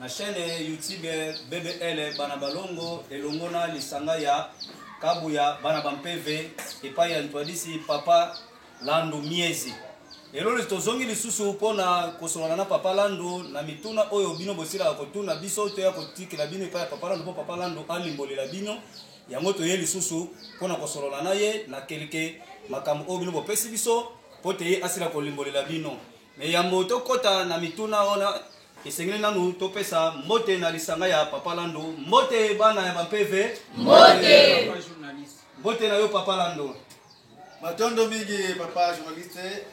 Na chaine youtube BBL Bana Balongo elongo na lisanga ya Kabuya Bana Bampeve epai ya Ntwadisi Papa Landu Miezi. Lelo tozongi lisusu mpo na kosolola na Papa Landu na mituna oyo bino bosilaka kotuna biso, toya kotikela bino epai ya Papa Landu mpo Papa Landu alimbolela bino yango toye lisusu mpo na kosolola na ye na kelke makambo oyo bino bopesi biso mpo te ye asila kolimbolela bino Mais yambo tokota na mituna wana, esengeli nanu topesa mbote na lisanga ya Papa Lando. Mbote bana ya ba PV. Mbote. Mbote na yo Papa Lando. Matondo mingi Papa journaliste.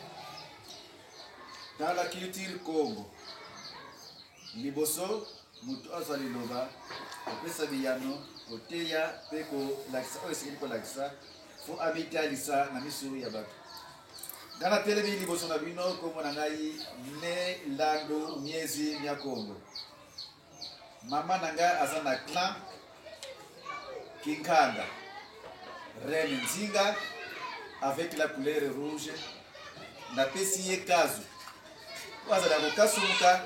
Dans la culture Congo, liboso moto azwa liloba kopesa biyano koteya mpe kolakisa oyo esengeli kolakisa fo amitalisa na miso ya bato Nga na telemi liboso na bino kombo na ngai ne landu miezi mia kongo mama na ngai aza na clan kinkanda rene nzinga avec la couleur rouge napesi ye kazu oyo azala kokasumuka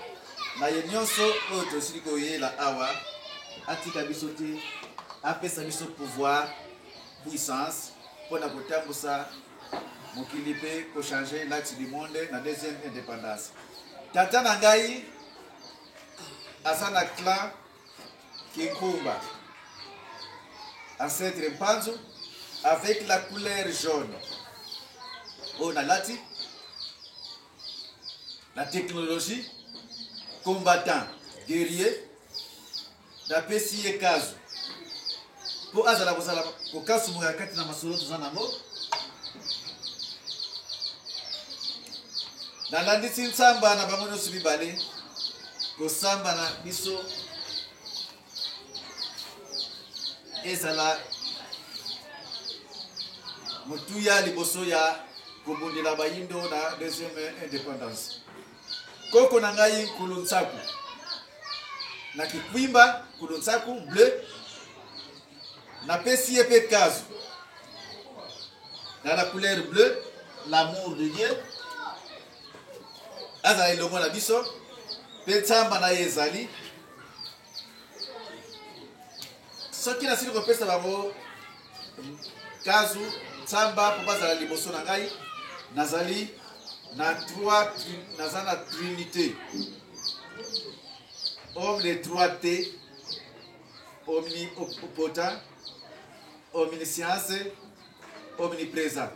na ye nyonso oyo tosili koyela awa atika biso te apesa biso pouvoir puissance mpo na kotambusa Mokili pe ko changer l'axe du monde na deuxième independance. Tata na ngai aza na clan Kinkumba, ancêtre Mpanzu avec la couleur jaune oyo nalati la technologie combattant guerrier Na pesi ye kazu po azala kozala kokasu boya kati na masolo toza nango. Na landisi nsamba na bango nyoso mibale kosamba na biso ezala motuya liboso ya kobundela bayindo na deuxième indépendance. Koko na ngai Nkulu Nsaku na Kikwimba, Nkulu Nsaku bleu, napesi ye mpe kazu na la couleur bleu, l'amour de Dieu azala elongo na biso mpe nsamba na ye ezali soki nasili kopesa bango kazu nsamba mpo bazala liboso na ngai nazali na trois naza na trinité homme de trois t omnipotent omniscience omniprésent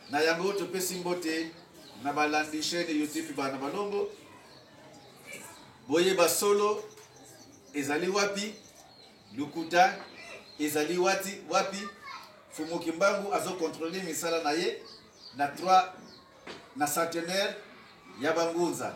Na yango topesi mbote na balandi chaine YouTube Bana Balongo. Boyeba solo ezali wapi, lukuta ezali wati wapi. Fumu Kimbangu azo controle misala na ye na 3 na centenaire ya bangunza.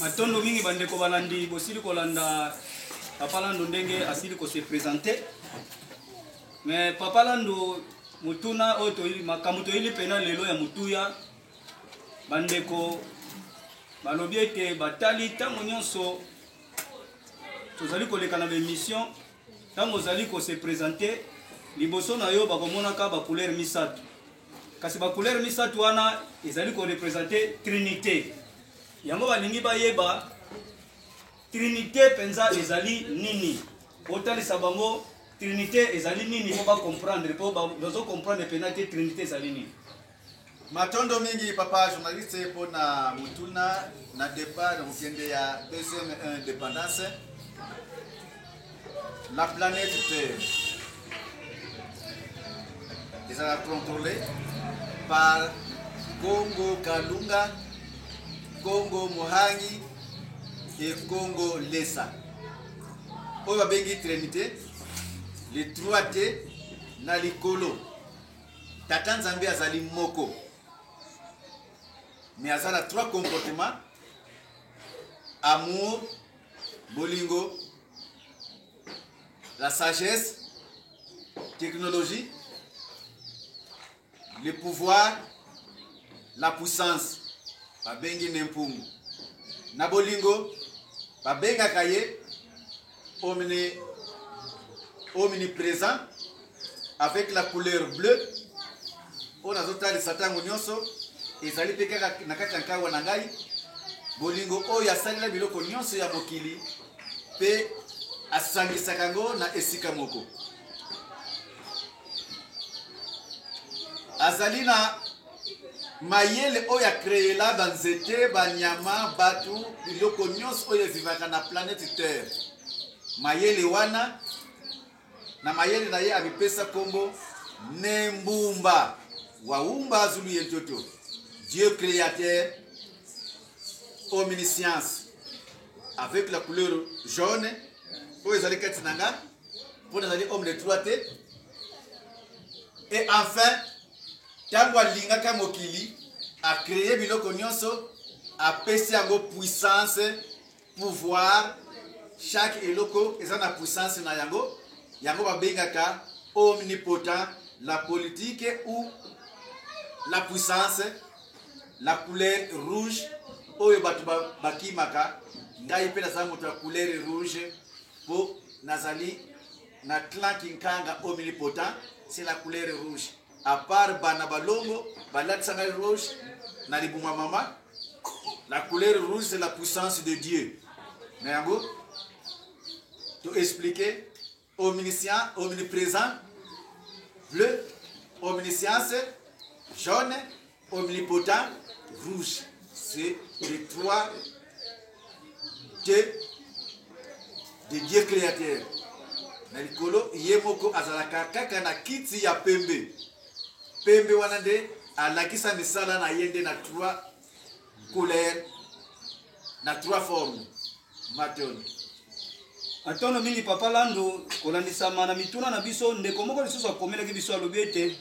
Matondo mingi bandeko balandi, bosili kolanda Papa Lando ndenge asili ko se présenter. Mais Papa Lando mutuna oyo toyili makambo toyili pena lelo ya mutuya bandeko balobi ete batali ntango nyonso tozali koleka na baémission ntango ozali ko se présenter liboso na yo bakomonaka ba couleur misato Kasi ba couleurs misato wana ezali ko representer trinite. Yango balingi bayeba trinite penza ezali nini? Otalisa bango trinite ezali nini po ba comprendre po bazo comprendre pena te trinite ezali nini. Matondo mingi papa journaliste mpo na motuna na départ kokende ya deuxième indépendance La planète Terre ezala contrôlée par Congo Kalunga, Congo Mohangi et Congo Lesa. Oyo babengi Trinité, le 3T na likolo. Tata Nzambe azali moko. Mais aza na trois comportements amour, bolingo la sagesse technologie le pouvoir la puissance babengi ne mpungu na bolingo babengaka ye omni omniprésent avec la couleur bleue oyo nazotalisa ntango nyonso ezali mpe kaka na kati ya nkawa na ngai bolingo oyo asalela biloko nyonso ya mokili mpe asangisaka yango na esika moko azali na mayele oyo akreela banzete banyama bato biloko nyonso oyo evivaka na planete terre mayele wana Na mayele na ye amipesa kombo Ne Mbumba wa Umba Zulu ye Ntoto, Dieu createur omniscience avec la couleur jaune oyo ezali kati na nga mpo nazali homme de trois te et enfin ntango alingaka mokili acreye biloko nyonso apesi yango puissance pouvoir chaque eloko eza na puissance na yango yango babengaka omnipotent la politique ou la puissance la couleur rouge oyo bato bakimaka ngai mpe naza moto ya couleur rouge mpo nazali na clan kinkanga omnipotent c'est la couleur rouge A part bana balongo balatisa ngai rouge na libumu mama la couleur rouge c'est la puissance de Dieu na yango to expliquer omniscient omnipresent bleu omniscience jaune Omnipotent rouge, c'est l'étoile de, de Dieu créateur. Na likolo ye moko azalaka kaka na kiti ya pembe. Pembe wana nde alakisa misala na ye nde na trois couleurs na trois forme matondo matondo mingi papa lando kolandisama na mituna na biso ndeko moko lisusu akomelaki biso alobi ete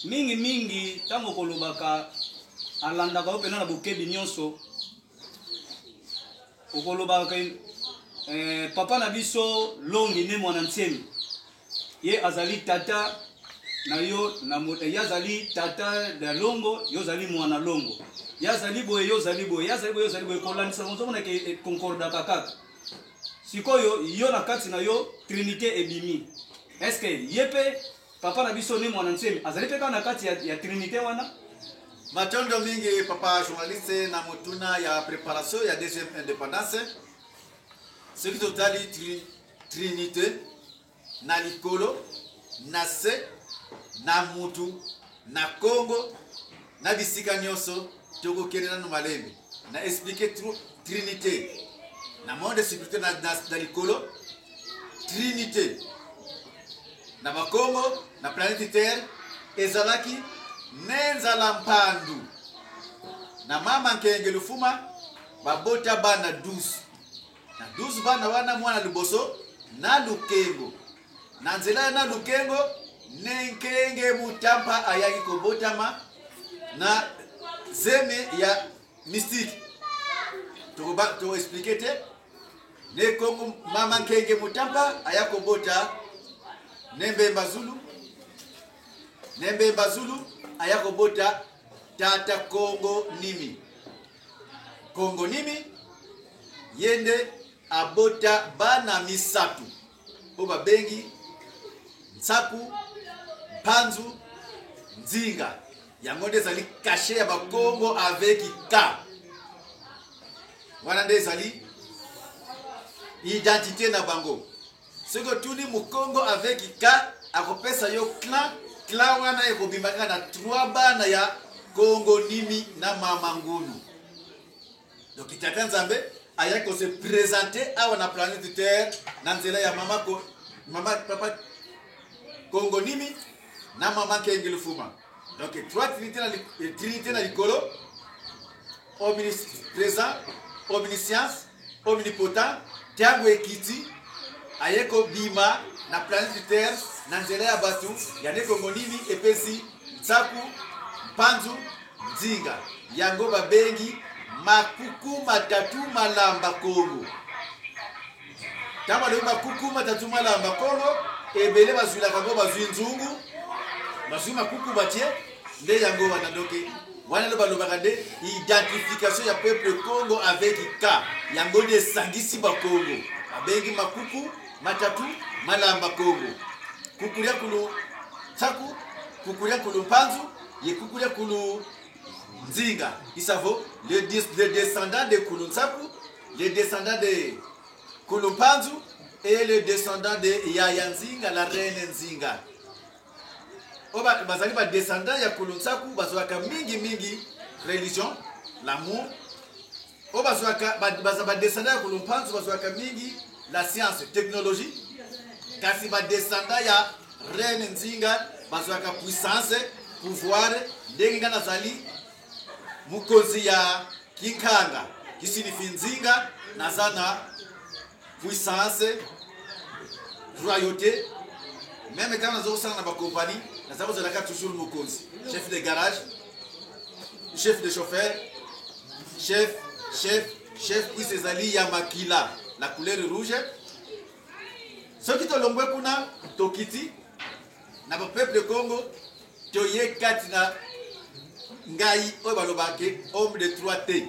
mingi mingi ntango kolobaka alandaka yo mpenza na bokebi nyonso okolobaka eh, papa na biso longi ne mwana ntsemi Ye azali tata na yo na mo- eh, ye azali tata na longo yo ozali mwana longo ye azali boye yo ozali boye ye azali boye yo ozali boye kolandisa ozomona ke eh, concordaka kaka sikoyo yo na kati na yo trinité ebimi eske ye mpe papa na biso ne mwana nsemi azali mpe kaka na kati ya, ya trinité wana Matondo mingi papa journaliste na motuna ya préparation ya deuxième indépendance. Soki totali tri- Trinite, na likolo, na se, na mutu, na Congo, na bisika nionso tokokende nanu malembe na explique Trinite na monde spirituel na, na, na likolo Trinite na bakongo na planète terre ezalaki ne nzala mpandu na mama nkenge lufuma babota bana 12 Na 12 bana wana, mwana liboso na Lukengo. Na nzela ya na Lukengo, Nenkenge Mutampa ayaki kobotama na zemi ya mystique. Tokoba to expliquer te. Nekongo mama Nkenge Mutampa aya kobota Nembemba Zulu. Nembemba Zulu aya kobota tata Kongo Nimi. Congo nini ye nde abota bana misato oyo babengi nsaku mpanzu nzinga yango nde ezali kashe ya bakongo avec k wana nde ezali identité na bango soki otuni mukongo avec ka akopesa yo clan clan wana ekobima kaka na trois bana ya kongo nimi na mama ngunu donc tata nzambe ayaki kose presente awa na planète terre na nzela ya mama, ko, mama papa kongo nimi na mama kengele fuma donc trois trinité na, trinité na likolo omnis présent omniscience Omnipotent, tango ekiti, aye ko bima na planeti terre na nzela ya batu ya nekongo nini epesi nsaku mpanzu nzinga yango ba bengi makuku matatu malamba kongo tango alobi makuku matatu malamba kongo ebele bazwilaka ngo bazwi nzungu bazwi makuku batie nde yango wana doki wana nde balobaka nde identification ya peuple congo avec ka yango nde esangisi bakongo abengi makuku matatu malamba kongo kukulia kulu tsaku kukulia kulu mpanzu ye kukulia kulu nzinga isavo le, le descendant de kulu nsaku le descendant de kulu mpanzu et le descendant de yaya nzinga la reine nzinga oyo bazali ba descendant ya kolo nsaku bazwaka mingi mingi religion l'amour oyo bazwaka baza ba descendant ya kolo mpanzu bazwaka mingi la science technologie kasi ba descendant ya reine nzinga bazwaka puissance pouvoir ndenge nga nazali mokonzi ya kinkanga kisinifi nzinga naza na puissance royauté meme ntango naza kosala na bakompani naza kozalaka toujours mokonzi chef de garage chef de chauffeur chef chef chef puise ezali ya makila na couleur rouge soki tolongwe kuna tokiti na bapeuple congo toye kati na ngai oyo balobaki homme de trois te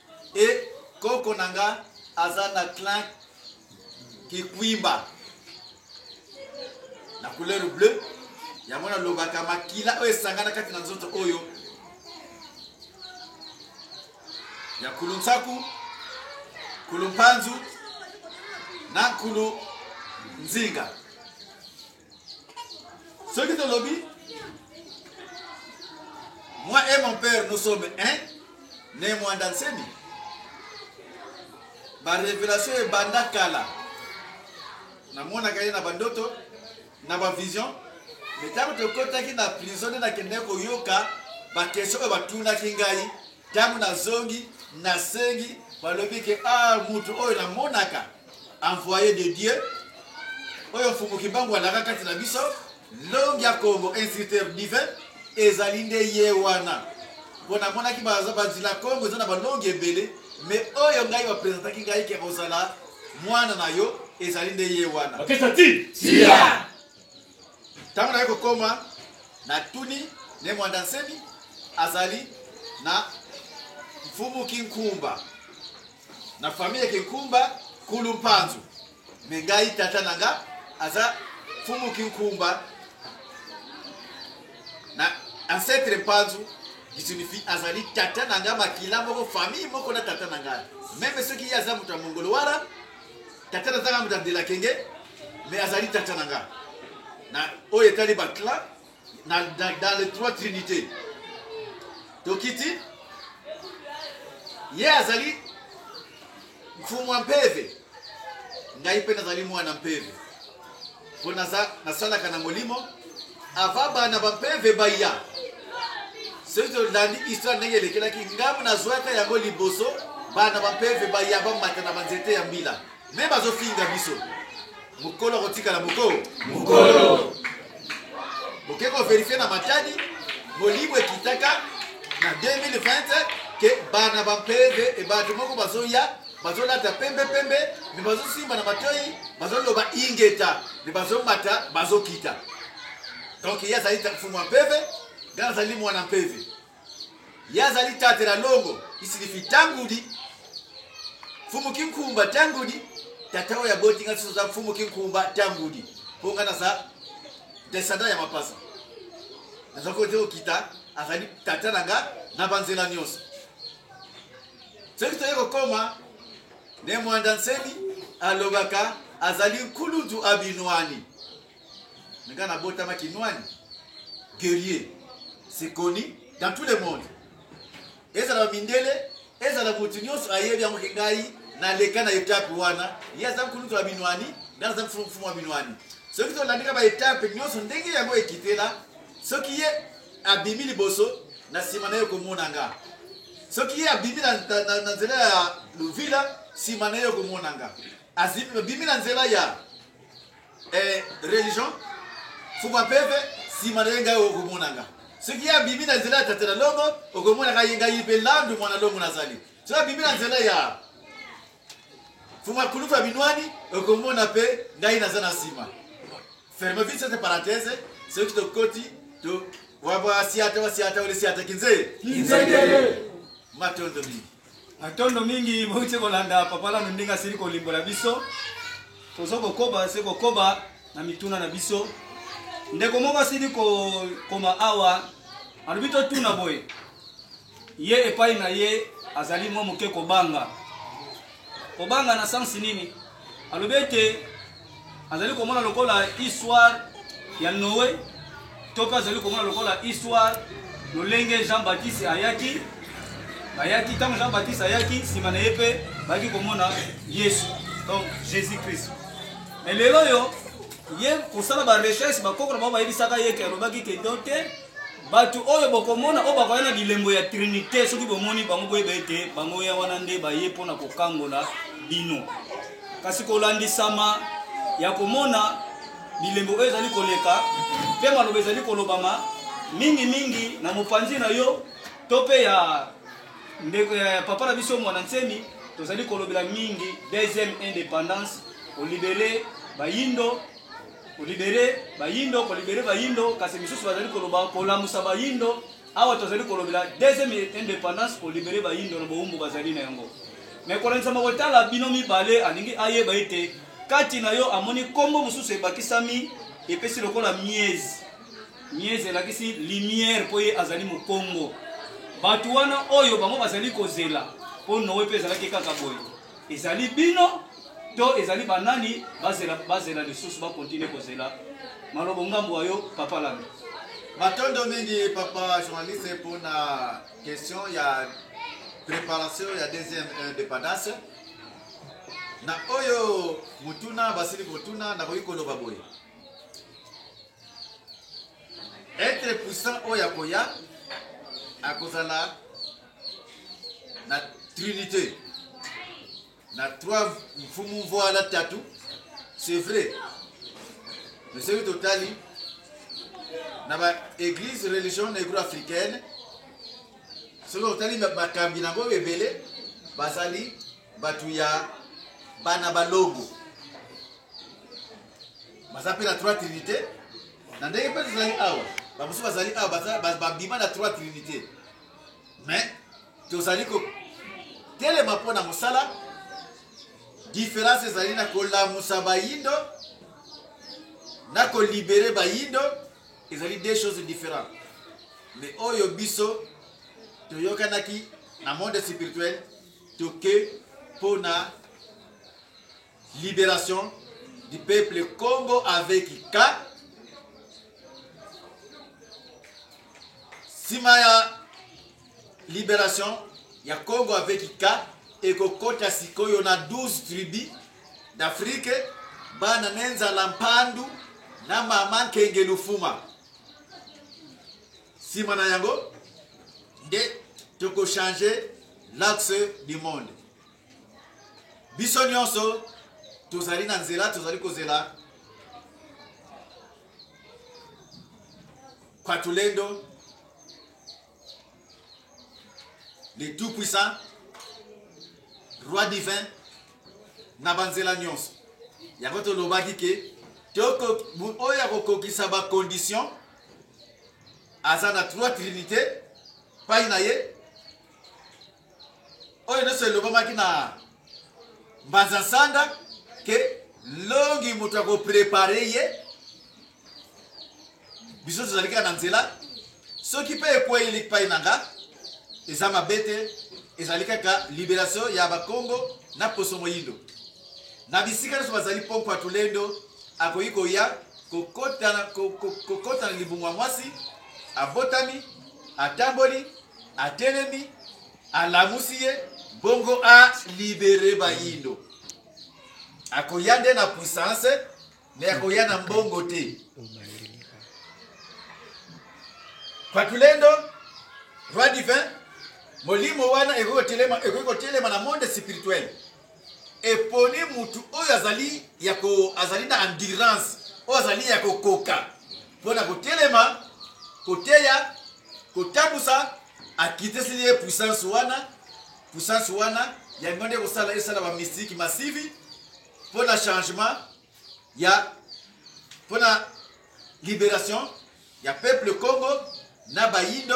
Et koko na nga aza na clan kikwimba na couleur bleu yango nalobaka makila oyo esangana kati na nzoto oyo ya kulu nsaku kulu mpanzu na kulu nzinga soki tolobi moi et mon père nous sommes un ne mwanda nsemi barevelation ebanda kala namonaka ye na bandoto na bavision me ntango tokotaki na prison nde nakendaki koyoka bakestio oyo batunaki ngai Tango nazongi, nasengi, balobi ke ah mutu oyo namonaka envoye de Dieu oyo Mfumu Kimbangu alaka kati na biso longi ya Kongo instructeur divin ezali nde ye wana mpo namonaki banzila Kongo eza na balongi ebele me oyo ngai bapresentaki ngai ke kozala mwana na yo ezali nde ye wana Ntango naye kokoma, natuni Ne Muanda Nsemi azali na Mfumu Kinkumba na famille Kinkumba Kulu Mpanzu, me ngai tata na nga aza Mfumu Kinkumba na ancetre Mpanzu Gisunufi azali tata na nga makila moko famille moko na tata na nga, meme soki ye aza moto ya Mongolo Wara Tata na tanga muta de la kenge mais azali tata na nga na oyo etali ba clan na, na, dans les trois trinités tokiti ye azali mfumu ya mpeve ngai mpe nazali mwana mpeve Mpo naza nasalaka na molimo avant bana bampeve baya. Soki tolandi histoire ndenge elekelaki ngambo, nazwaka yango liboso bana bampeve baya bamata na banzete ya mbila me bazofinga biso mokolo akotikala moko mokolo boke koverifie na matadi molimo ekitaka na 2020 ke bana bampeve ebato moko bazoya bazolata pembe pembe me bazosimba na matoi bazoloba ingeta me bazomata bazokita donc ye azali mfumu ya mpeve ngai nazali mwana mpeve ye azali tatela longo isilifi tangudi mfumu kinkumba tangudi tata oyo aboti ngai soso aza mfumu kinkumba tangudi mpo ngai naza descendant ya mapasa nazali kote kokita azali tata na ngai na banzela nyonso soki toye kokoma nde mwanda nsemi alobaka azali nkulutu abinwani nga nabotama kinwani guerrier c'est connu dans tout le monde ezala bamindele ezala motu nyonso ayebi yango ke ngai naleka na etape wana ye aza nkulutu ya binwani nga naza mfumu ya binwani soki tolandika baetape nyonso ndenge yango ekitela Soki ye abimi liboso, na nsima na ye okomona nga. Soki ye abimi na, na, na, na nzela ya Luvila, nsima na ye okomona nga. Abimi na nzela ya eh, religion fuba peve, nsima na ye ngai okomona nga. Soki ye abimi na nzela ya tata na longo, okomona ngai ngai mpe landu mwana longo nazali. Soki abimi na nzela ya fuma kulufa binwani, okomona mpe ngai naza na nsima. Ferme vite cette parenthèse, soki tokoti to wabasiata wasiata wale siata kinze kinzekele matondo mingi matondo mingi mouti kolanda papa lano ndenge asili kolimbola biso toza kokoba se kokoba na mituna na biso ndeko moko asili kokoma awa alobi totuna boye Ye epai na ye azali mwa moke kobanga. Kobanga na sense nini? Alobi ete azali komona lokola histoire ya Noe to mpe azali komona lokola histoire lolenge Jean Baptiste ayaki bayaki ntango Jean Baptiste ayaki nsima na ye mpe bayaki komona Yesu donc Jésus Christ. Mais lelo oyo ye kosala ba recherche bakoko na bango bayebisaka ye ke alobaki ke donc te Bato oyo bokomona oyo bakoya na bilembo ya Trinite, soki bomoni bango, boyeba ete bango ya wana nde baye mpo na kokangola bino. Kasi kolandisama ya komona bilembo oyo ezali koleka mpe maloba ezali kolobama mingi mingi na mopanzi na yo to mpe ya ndeko ya papa na biso mwana nsemi tozali kolobela mingi deuxième indépendance kolibele bayindo kolibere bayindo kolibere bayindo kasi misusu bazali koloba kolamusa bayindo awa tozali kolobela deuxième indépendance kolibere bayindo na bowumbu bazali na yango me kolandisama kotala bino mibale alingi ayeba ete kati na yo amoni nkombo mosusu ebakisami epesi lokola miese miese elakisi lumière mpo ye azali mokongo bato wana oyo bango bazali kozela mpo noe mpe ezalaki kaka boye Ezali bino to ezali ba nani bazela bazela lisusu ba continuer kozela malobo ngambo wa yo papa landa. Matondo mingi papa journaliste pona question ya preparation ya deuxième independance na oyo motuna basili kotuna nakoki koloba boye etre puissant oyo akoya akozala na trinite na trois mfumu mvwala tatu c'est vrai mais soki totali na baeglise religion negro africaine soki otali bakambi na yango ebele bazali bato ya bana balongo baza mpe na trois trinité na ndenge mpe tozali awa bamosusu bazali awa babima na trois trinité mais tozali kotelema mpo na mosala diference ezali na kolamusa bayindo na kolibere bayindo ezali deux choses différentes mais oyo biso toyokanaki na monde spirituel toke mpo na liberation du peuple Congo avec K nsima ya liberation ya Congo avec K ekokota sikoyo na 12 tribu d'Afrique bana ne nzala mpandu na mama nkenge lufuma nsima na yango nde tokochange l'axe du monde biso nyonso tozali na nzela tozali kozela patulendo le tout puissant roi divin na banzela nyonso yango tolobaki ke oyo akokokisa bacondition aza na trois trinité pai na ye oyo nyonso elobamaki na mbanza nsanda ke longi moto ya koprepare ye biso tozali kaka na nzela soki mpe ekwei likpai na nga eza mabe te ezali kaka liberation ya bakongo na poso moyindo na bisika nyonso bazali pompo ya tulendo akoki koya kokota na libumu ya mwasi abotami atamboli atelemi alamusi ye bongo a libere bayindo akoya nde na puissance me akoya na mbongo te pakulendo roi divin molimo wana ekoki kotelema na monde spirituel eponi mutu oyo azali ya ko azali na endurance oyo azali ya kokoka mpo na kotelema koteya kotambusa akiteseli ye puissance wana puissance wana yango nde kosala esala ba mystique massive mpo na changement ya mpo na liberation ya peuple congo na bayindo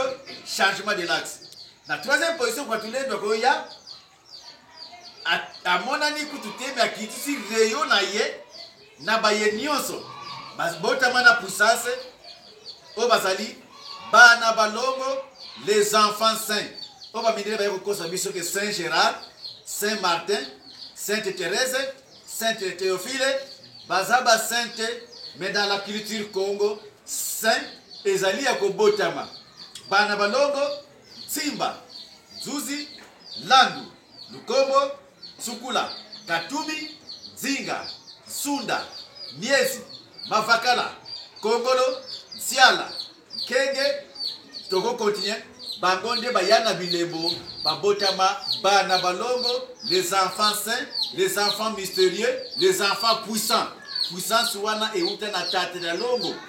changement de laxe na troisième position kwa tulendo akoya amonani kutu te me akitisi reyo na ye na baye nyonso babotama na puissance oyo bazali bana balongo les enfants saints oyo bamindele baye kokosa biso ke saint gérard saint martin sainte therese sainte théophile baza basainte mais dans la culture congo saint ezali ya kobotama bana balongo Tsimba, Dzuzi, Landu, Lukombo, Tsukula, Katubi, Nzinga, Nsunda, Miezi, Mavakala, Kongolo, Nsiala, Nkenge, toko continuer, bango nde baya na bilembo babotama bana balongo, les enfants saints, les enfants mysterieux, les enfants puissants. Puissance wana ewuta na Tata na longo.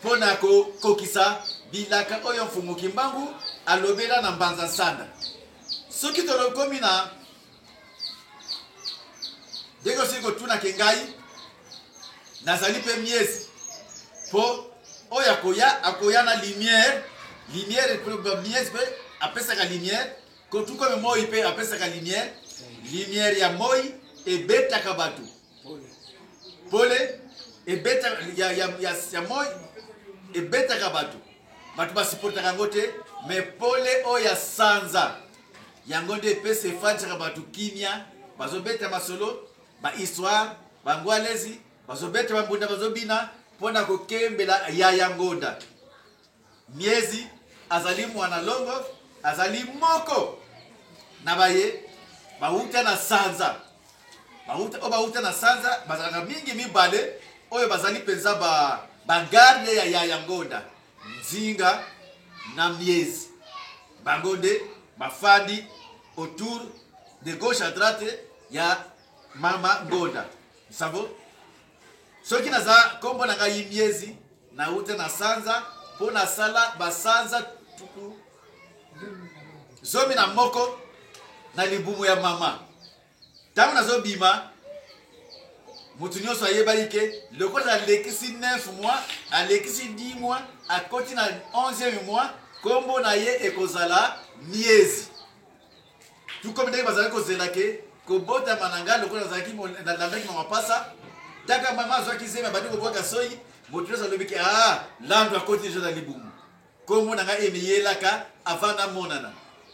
mpo na kokokisa bilaka oyo Mfumu Kimbangu alobela na Mbanza Nsanda. Soki tolokomi na ndenge osili kotunake ngai, nazali mpe miezi mpo oyo akoya akoya na lumière lumière miezi mpe apesaka lumière kotukome moi mpe apesaka lumière lumière ya moi ebetaka bato pole ebeta ya, ya, ya, ya moi ebetaka bato bato basiportaka yango te me pole oyo ya sanza yango nde epesa efandisaka bato kimia bazobeta masolo bahistoire bango alezi bazobeta bambunda bazobina mpo na kokembela yaya ngonda Miezi azali mwana longo, azali moko na baye bawuta na sanza bawuta oyo bawuta na sanza bazalaka mingi mibale oyo bazali mpenza ba bagarde ya yaya ngonda nzinga na miezi bango nde bafandi autour de gauche à droite ya mama ngonda savo Soki naza kombo na ngai miezi na uta na sanza mpo nasala basanza tuku zomi na moko na libumu ya mama ntango nazobima moto nyonso ayebaki ke lokola alekisi 9 mois alekisi 10 mois akoti na 11 mois nkombo na ye ekozala miezi tout comme ndenge bazalaki kozela ke kobotama na ngai lokola nazalaki nalandaki mwa mapasa taka mama azwaki zemi abandi kobwaka soyi moto nyonso alobi ke a lando akoti deja na libumu nkombo na ngai emiyelaka avant namonana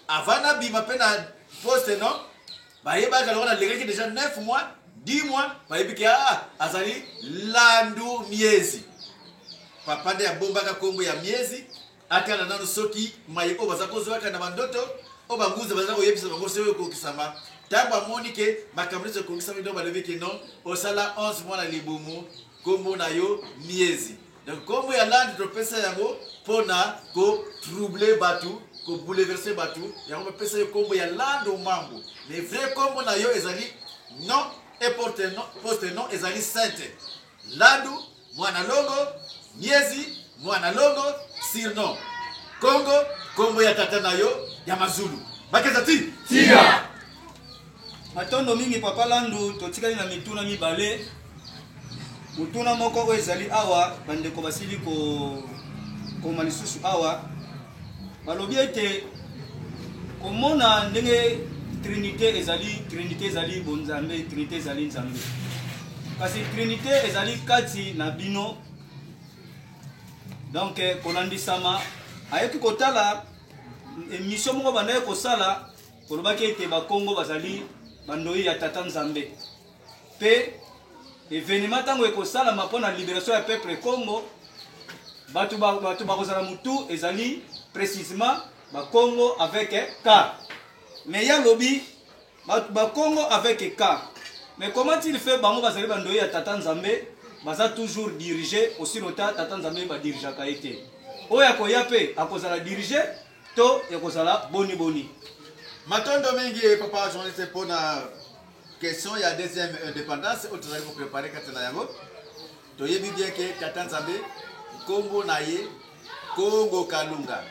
avant nabima mpe na poste non bayebaka lokola nalekaki deja 9 mois 10 mois bayebi ke a azali landu miezi papa nde abombaka nkombo ya miezi Atala nanu soki maye oyo baza ko zwaka na ba ndoto oyo ba nguza baza ko yebisa bango soki eko kokisama. Tangu a moni ke makambo nionso e kokisami donc ba lobi ke non o sala 11 mois na libumu kombo na yo Miezi. Donc kombo ya land to pesa yango pona ko troubler batu, ko bouleverser batu yango ba pesa yo kombo ya land ou mambo. Mais vrai kombo na yo ezali non et porte non, poste non ezali Sainte Landu. Mwana Longo, Miezi, Mwana Longo, surnom. Kongo, kombo ya tata na yo ya Mazulu. Bakeza ti? Tia! Matondo mingi Papa Landu, totikali na mituna mibale. Motuna moko oyo ezali awa, bandeko basili kokoma lisusu awa. Balobi ete komona ndenge trinite ezali trinite ezali bonzambe trinite ezali nzambe kasi trinite ezali kati na bino donc eh, kolandisama ayaki kotala emission moko bandaki kosala kolobaki ete bakongo bazali bandoi ya tata nzambe Pe evenema tango ekosalama mpo na liberation ya peuple Congo, bato bato bakozala mutu ezali precisement ba Congo avec K. Mais ya lobi ba Congo avec K. Mais comment il fait bango bazali bandoyi ya Tata Nzambe baza toujours dirige aussi lota Tata Nzambe ba dirigeaka ye te. Oyo akoya pe akozala dirige To ekozala boni boni. Matondo mingi papa journaliste mpo na question ya deuxième indépendance oyo tozali koprepare kati na yango toyebi bien ke tata nzambe nkombo na ye kongo kalunga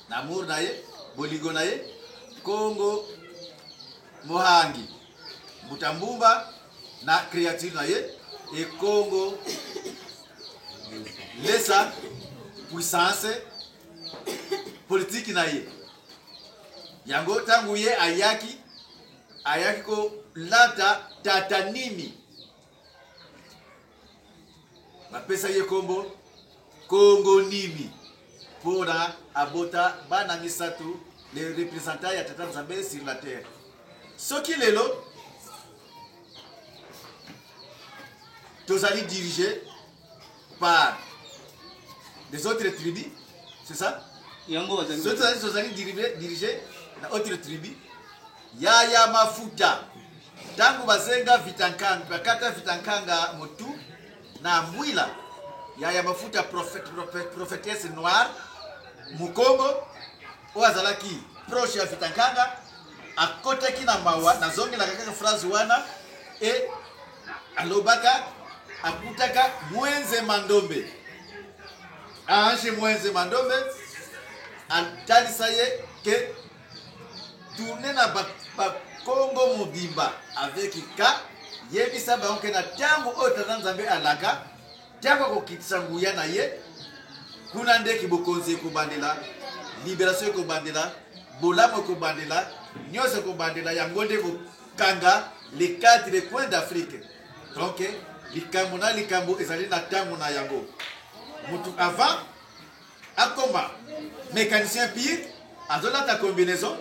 na mur na ye bolingo na ye kongo mohangi Mbuta Mbumba na creature na ye Ekongo Lesa puissance politiki na ye yango ntango ye ayaki ayaki kolata tata nini bapesa ye nkombo kongo nini mpona abota bana misato le représentant ya tata nzambe sur la terre soki lelo tozali dirige par des autres tribus c'est ça yango bazali soki tozali tozali diribe- dirige na autre tribu yaya mafuta ntango basenga vitankanga bakata vitankanga motu na mbwila yaya mafuta prophète, prophète, prophétesse noire mokongo oyo azalaki proche ya vitankanga akotaki na mawa nazongelaka kaka phrase wana e alobaka akutaka mwenze mandombe ange mwenze mandombe atalisa ye ke tourne na bakongo ba mobimba avec ka yebisa bango ke na ntango oyo tata nzambe alaka ntango akokitisa nguya na ye kuna nde kibokonzi ekobandela liberation ekobandela bolamu ekobandela nyonso ekobandela yango nde Kanga les quatre coins d'Afrique donc likambo na likambo ezali na tango na yango mutu avant akoma mecanicien pire azolata combinaison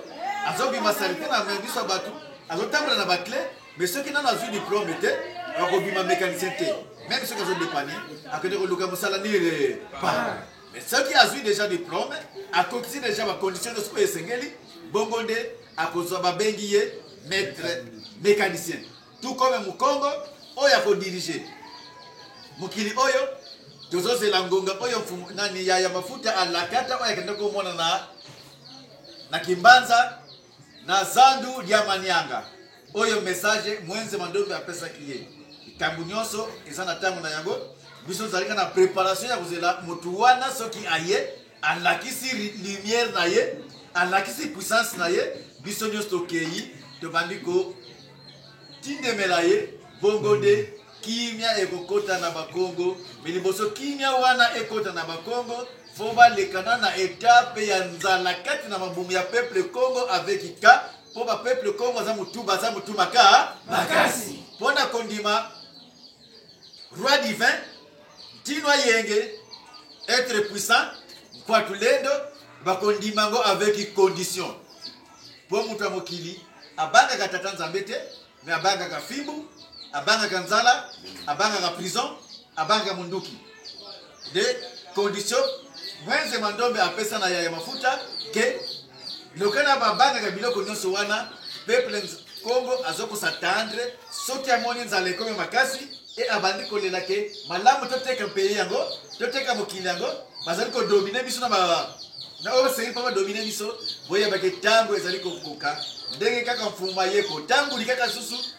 azobima salite na miso ya bato azotambola na baclé mais soki nano azwi diplome te akobima mécanicien te meme soki azodepane akende koluka mosala nire pa mais soki azwi déjà diplome akokisi déjà bacondition nyonso oyo esengeli bongo nde akozwa babengi ye maître mécanicien tout comme mukongo oyo akodirige mokili oyo tozozela ngonga oyo mfumu nani ya, ya mafuta alakata oyo akenda komona na na kimbanza na zandu lya manianga oyo message mwenze mandombe apesaki ye likambo nyonso eza na ntango na yango biso tozalika na préparation ya kozela motu wana soki aye alakisi lumière na ye alakisi puissance na ye biso nyonso tokei tobandi kotindemela ye bongo nde kimia ekokota na bakongo me liboso kimia wana ekota na bakongo fo balekana na etape ya nzala kati na mabumu ya peuple congo avec ika mpo bapeuple congo aza motu baza motu maka makasi mpo na kondima Roi divin, Tino Ayenge, être puissant, Kwatulendo, bakondima yango avec condition. Mpo moto ya mokili abangaka tata nzambe te, me abangaka fimbu, abangaka nzala, abangaka prison, abangaka monduki. de condition wenze mandombe apesa na yaya mafuta ke lokana babangaka biloko nyonso wana peuple congo azokosa tendre soki amoni nzala ekomi makasi e abandi kolela ke malamu toteka mpeye yango toteka mokili yango bazali kodomine biso na na oyo basengeli mpo badomine biso boyebake ntango ezali kokoka ndenge kaka mfuma ye kotamboli kaka susu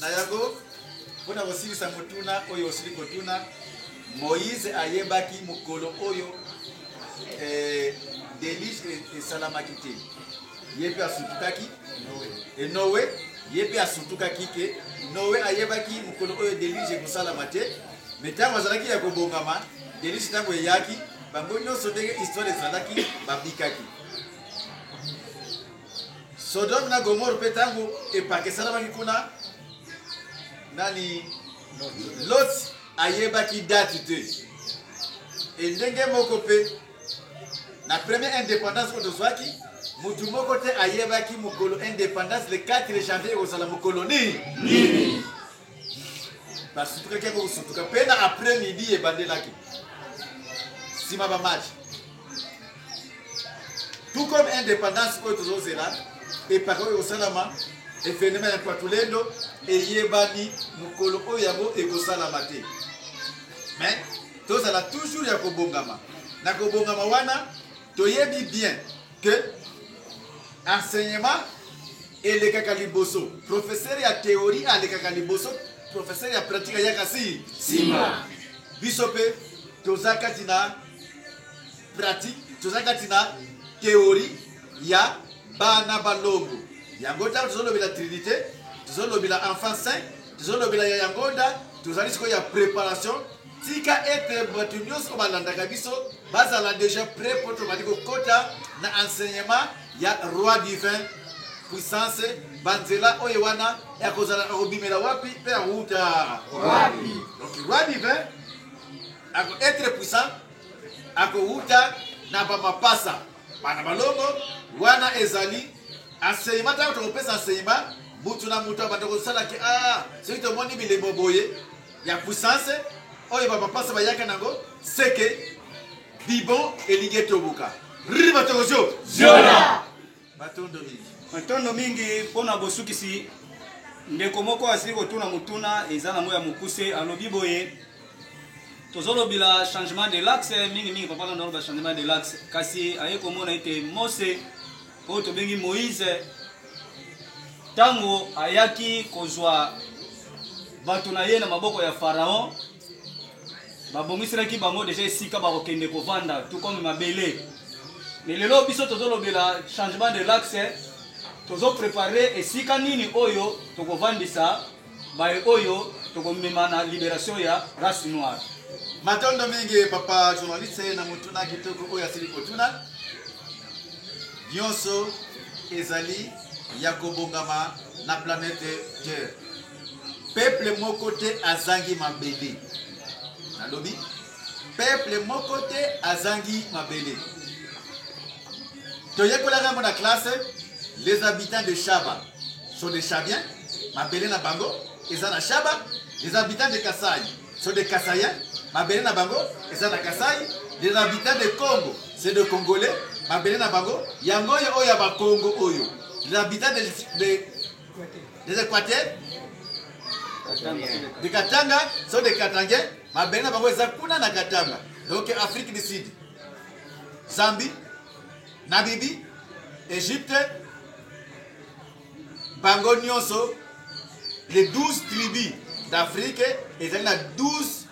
Na yango, mpo na kosilisa motuna oyo osili kotuna, Moïse ayebaki mokolo oyo eh, delige e, esalamaki te. Ye mpe asutukaki e Noe ye mpe asutukaki ke Noe ayebaki mokolo oyo delige ekosalama te, me ntango azalaki ya kobongama delige ntango eyaki, bango nyonso ndenge histoire ezalaki babikaki. Sodome na Gomore mpe ntango epakesanamaki kuna, nani Lot ayebaki date te. E ndenge moko mpe na première indépendance oyo tozwaki, motu moko te ayebaki mokolo indépendance le 4 janvier ekozala mokolo nini nini basutukaki yango kosutuka mpe na après midi ebandelaki nsima bamatch tout comme indépendance oyo tozozela epaka oyo ekosalama evenema ya patulendo eyebani mokolo oyo yango ekosalama te mais tozala toujours ya kobongama na kobongama wana Toyebi bien que enseignement elekaka liboso professeur ya théorie alekaka liboso professeur ya pratique ayaka si sima biso mpe toza kati na pratique toza kati na théorie ya bana balongo yango ntango tozolobela trinité tozolobela enfant saint tozolobela ya yango nda tozali sikoyo ya préparation Tika ete bato nyonso balandaka biso bazala deja pret mpo tobandi kokota na enseignement ya roi divin puissance banzela oyo wana ekozala ekobimela wapi mpe yakouta wapi donc roi divin ako etre puissant akowuta na bamapasa bana balongo wana ezali enseignement ntango tokopesa enseignement mutu na mutu abanda kosalaki a ah, soki tomoni bilembo boye ya puissance oyo ba mapasa bayaka nango seke bibon elingi etobuka riri batoko zio ziola matondo mingi matondo mingi mpo na bosukisi ndeko moko asili kotuna motuna eza nango ya mokuse alobi boye tozolobela changement de laxe mingimingi papa landa aloba changement de laxe kasi aye komona ete mose oyo tobengi Moïse tango ayaki kozwa bato na ye na maboko ya Pharaon babongiselaki bango deja esika bakokende kovanda tout comme mabele mais lelo biso tozolobela changement de l'axe tozoprepare esika nini oyo tokovandisa Baye oyo toko mema na liberation ya race noire. Matondo mingi papa journaliste na motuna kitoko oyo asili kotuna. Nyonso ezali ya kobongama na planète Terre. Peuple moko te azangi mabele. Nalobi Peuple moko te azangi mabele. Toyekolaka yango na classe, les habitants de Shaba sont des Shabiens, mabele na bango eza na Shaba, les habitants de Kasai sont des Kasaiens, mabele na bango eza na Kasai, les habitants de Congo c'est des Congolais, mabele na bango yango oyo ya ba Congo oyo, les habitants de, de des equateurs de katanga so de katangais mabele na bango eza kuna na katanga donc afrique du sud zambie nabibi egypte bango nyonso les 12 tribus d'afrique ezali na 12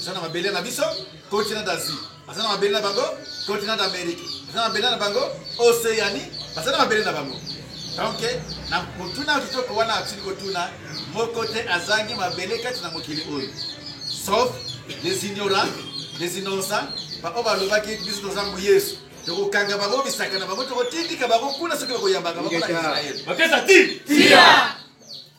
eza na mabele na biso continent d'asie baza na mabele na bango continent d'amérique baza na mabele na bango océanie baza na mabele na bango donc na motuna kitoko wana atili kotuna moko te azangi mabele kati na mokili oyo sauf les ignorants les innocents baoyo balobaki biso toza mbu yesu tokokanga bango bisaka na bango tokotindika bango kuna soki bakoyambaka bango na israele bakesa ti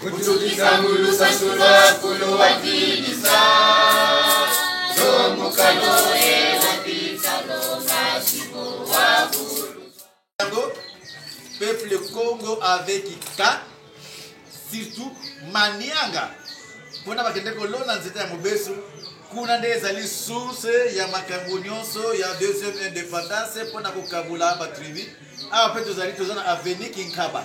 Kutukisa ngulu sasula kulu wa kidisa Zomukalo e wapita longa siko wa kulu Yango, peuple Congo avec Ika, surtout Manianga, mpona bakende kolona nzete ya mobesu kuna nde ezali source ya makambo nyonso ya deuxième indépendance mpona kokabola batribu awa mpe tozali toza na aveni kinkaba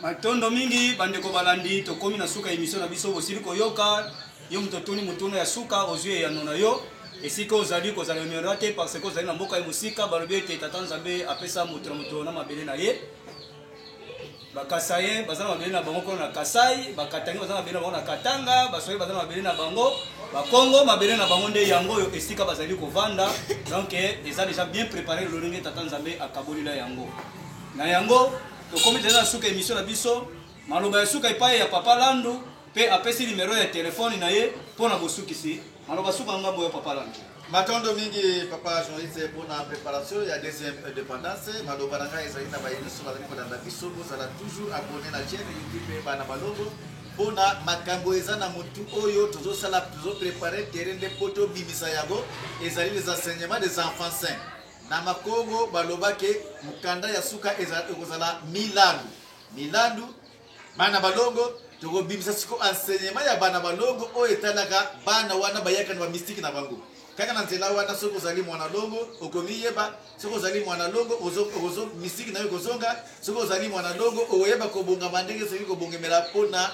Matondo mingi bandeko balandi, tokomi na suka ya emission na biso. Bosili koyoka yo moto otuni motuna ya suka, ozwi eyano na yo. Esika ozali kozala honora te parce que ozali na mboka ya mosika. Balobi ete Tata Nzambe apesa moto na moto na mabele na ye. Bakasaye baza na mabele na bango kuna na Kasai, Bakatangi baza na mabele na bango na Katanga, Baswahili baza na mabele na bango, Bakongo mabele na bango nde yango oyo esika bazali kovanda. Donc eza deja bien prepare lolenge Tata Nzambe akabolila yango. Na yango Tokomi deja na suka emission na biso. Maloba ya suka epai ya Papa Landu pe apesi numero ya telefone na ye mpo na bosukisi. Maloba suka ngambo ya Papa Landu. Matondo mingi Papa journaliste mpo na preparation ya deuxième indépendance. Maloba na ngai ezali na baye nyonso bazali kolanda biso, bozala toujours abonné na chaîne YouTube Bana Malongo mpo na makambo eza na motu oyo tozosala, tozoprepare terrain nde mpo tobimisa yango. Ezali les enseignements des enfants sains. Na Makongo baloba ke mukanda ya suka ezala ekozala milandu milandu bana balongo tokobimisa siko enseignement ya bana balongo oyo etalaka bana wana bayaka na ba mystique na bango kaka na nzela wana soki ozali mwana longo okomiyeba soki ozali mwana longo mystique na yo ekozonga soki ozali mwana longo okoyeba kobongama ndenge soki kobongemela mpo na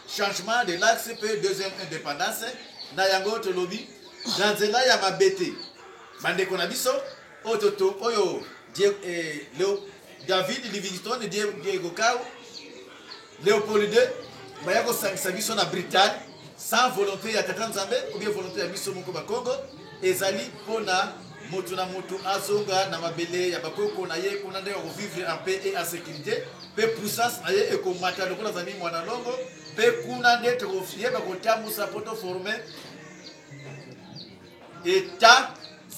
changement de l'axe mpe deuxième indépendance na yango tolobi na nzela ya mabe te bandeko na biso oyo toto oyo eh, leo david livingstone diego kau leopold ii baya kosangisa biso na britagne sans volonté ya tata nzambe obie volonté ya biso moko bakongo Ezali pona mutu na mutu azonga na mabele ya ba koko na ye kuna nde ako vivre en paix et en securite pe puissance na ye ekomata lokola azali muana longo pe kuna nde toko yeba kotambusa po to forme etat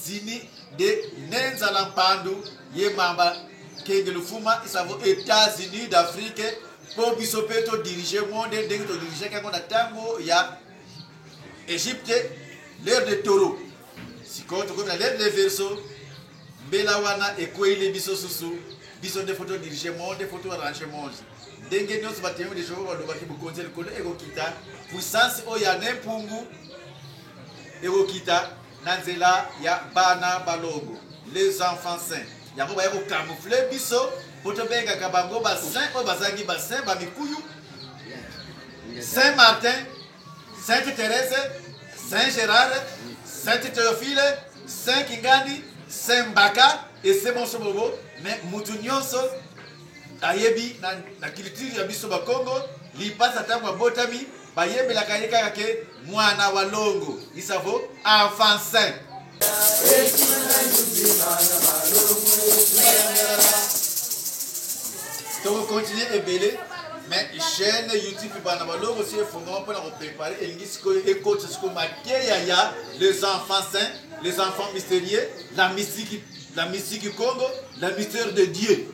zini de nenzala mpandu ye mamba kenge lufuma isavo etats unis d'afrique mpo biso mpe todirige monde ndenge todirigeke yango na ntango ya egypte l'heure de taureau sikoyo tokomi na l'heure de verso mbela wana ekweili biso susu biso nde foto dirige monde foto arrange monde ndenge nyonso batemoi de jehova balobaki bokonzi ya likolo ekokita puissance oyo ya nempungu ekokita na nzela ya bana balongo les enfants saints yango baya ko camoufler biso po tobengaka bango ba saint oyo bazangi ba saint ba mikuyu saint martin sainte therese saint gérard sainte théophile saint kingandi saint mbaka ese bonso bobo me motu nyonso ayebi na, na culture ya biso bakongo lipasa ntango abotami Bayembelaka ye kaka ke muana wa longo isavo enfant saint. Toko continuer ebele mais chaîne YouTube bana balongo si efongama mpona koprepare elingi sikoyo ekotisa sikoyo mateya ya les enfants saints les enfants mystérieux la mystique la mystique congo la mystère de dieu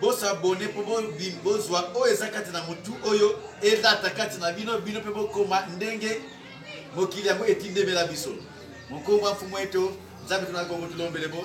Bo s'abonner po bo bim bo zwa oyo eza kati na mutu oyo elata kati na bino bino pe bo koma ndenge mokili yango etindemela biso. Mokongo wa mfumu eto nzambe tuna kongo tulombele bo.